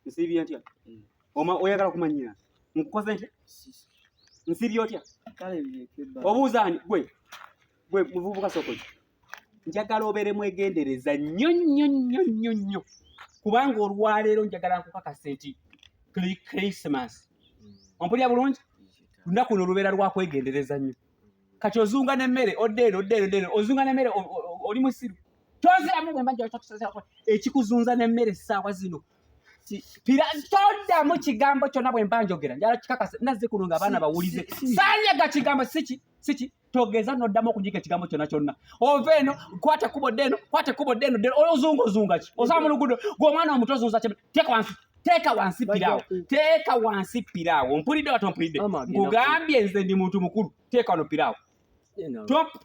nsibye ntya mm. oma oyagala kumanyira nkukoze ntya nsibye otya obuuza ani gwe gwe muvubuka sokoki njagala obeere mwegendereza nnyo nnyo nnyo nnyo nnyo kubanga olwaleero njagala nkukakase nti christmas ompulira bulungi lunaku luno lubeera lwakwegendereza nnyo kati ozunga nemmere odde eno odde eno deno ozunga nemmere oli musiru toziramu bwemba njakusaako ekikuzunza nemmere essaawa zino toddamu kigambo kyonna bwemba njogera njala kikakase nazze kuno nga abaana bawulize sanyaga kigambo siki siki togeza noddamu okunyika ekigambo kyonna kyonna ova eno kwata kubo ddeno kwata kubo ddeno ddeno ozunga ozunga ki osaba mu lugudo gwe omwana omuto ozunza ki teeka wansi teeka wansi piraawo teeka wansi piraawo mpulidde wati ompulidde nkugambye nze ndi muntu mukulu teeka wano piraawo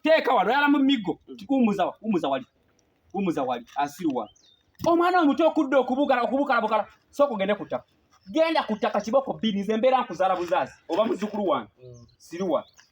teeka wano oyala mu miggo wumuza wumuza wali wumuza wali asiruwa omwana omuto okudda okubugala okubukalabukala sooka ogende ku ttaka genda ku ttaka kiboko bbiri nze mbeera nkuzaala buzaazi oba muzukulu wange mm. siruwa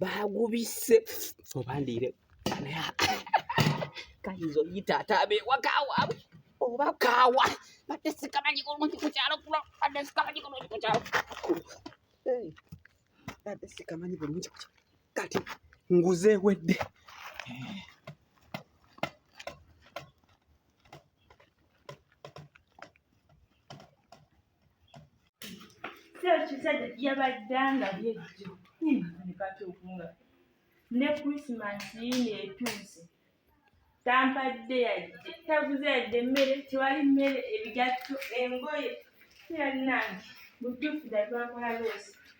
bagubise oba ndiire kayinza oyita ate abewaka waabwe oba kaawa badde sikamanyi kulungi ku kyalo kulo badde sikamanyi kulungi ku kyalo badde sikamanyi bulungi ku kyalo kati nguze ewedde ekisajja yabadde nga byejjo nekati okunga ne christmas yino etuuse tampadde yadde taguze yadde emmere tewali mmere ebigatto engoye kiralinange mutuufu da twakola loosi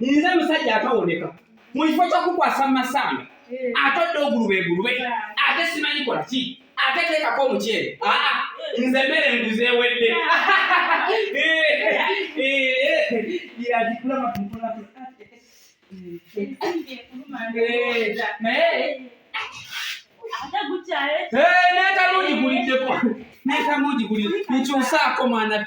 nze musajja atawoneka mu kifo kyokukwasa mu masanga eh. atodde ogulube egulube ate simanyi kola ki ate teekako omukyere aa nze mmere nguze ewedde naye tamugikulideko naye tamugikulide nkyusaako mwana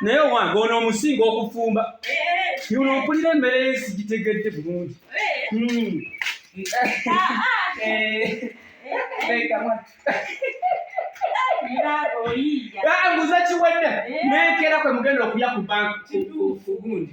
naye owange ono omusinga okufumba yuno mpulira emmere yensi gitegedde bulungi nguza kiwedde nenkera kwe mugenda okulya ku bank ku gundi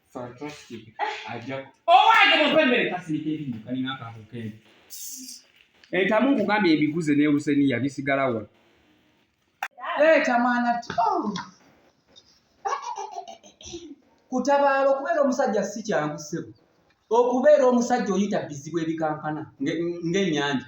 Fantastic. Ajja. Owange mu pembere kasilika ebinyo kalina akantu kene. Entamu nkugambye ebiguze ne Husenia bisigala wa. Leeta mwana tu. Oh. Kutabaala okubeera omusajja si kyangu ssebo. Okubeera omusajja oyita bizibu ebikankana ng'ennyanja.